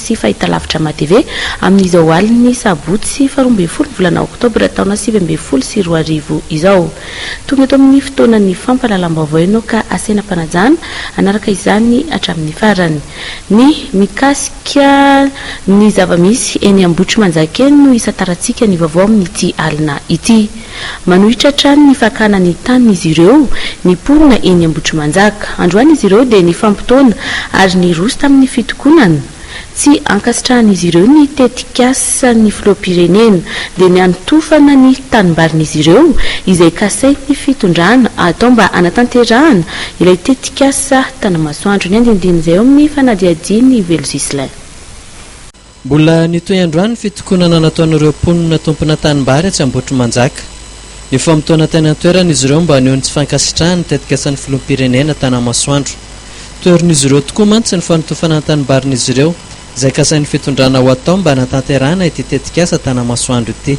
sy fahitalavitra MATV, amin'izao alin'ny sabotsy faharoa ambin'ny folo ny volana oktobra taona sivy ambin'ny folo sy roa arivo izao. Tonga eto amin'ny fotoanan'ny fampahalalam-baovao ianao ka asena am-panajana hanaraka izany hatramin'ny farany. Ny mikasika ny zava-misy eny Ambohitrimanjaka eny no hisantarantsika ny vaovao amin'ity alina ity. Manohitra hatrany ny fakana ny tanin'izy ireo ny mponina eny Ambohitrimanjaka. Androany izy ireo dia nifampitaona ary niroso tamin'ny fitokonana. Tsy ankasitrahan'izy ireo ny tetikasan'ny filoham-pirenena dia ny hanotofana ny tanimbarin'izy ireo izay kasain'ny fitondrana atao mba hanatanterahana ilay tetikasa Tanamasoandro. Ny andinindin'izay ao amin'ny fanadihadian'i Velo Ghislain. Mbola nitohy androany ny fitokonana nataon'ireo mponina tompona tanimbary etsy Ambohitrimanjaka. Nifamotoana teny an-toerana izy ireo mba haneho ny tsy fankasitrahany ny tetikasan'ny filoham-pirenena Tanamasoandro. Toherin'izy ireo tokoa mantsy ny fanotofana ny tanimbarin'izy ireo, izay kasain'ny fitondrana ho atao mba hanatanterahana ity tetikasa Tanamasoandro ity.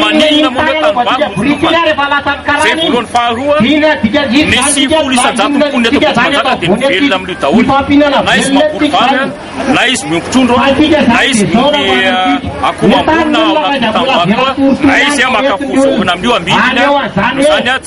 Maninona moa ireo tanimbary no tokana? Zay voalohany faharoa nisy folo isan-jato ny mponina eto Ambohitrimanjaka dia mivelona amin'io daholo na izy mamboly vary an, na izy miompy trondro an, na izy miompy akoho amborina ao anatin'ny tanimbary koa, na izy maka voa zaovina amin'io amidy iny an, noho izany an,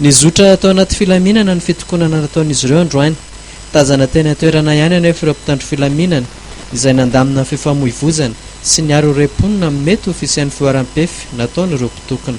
Nizotra tao anaty filaminana ny fitokonana nataon'izy ireo androany. Tazana teny an-toerana ihany anefa ireo mpitandro filaminana izay nandamina fifamoivozana sy niaro irey mponina amin'ny mety ho fisian'ny fihoaram-pefy nataon'ireo mpitokona.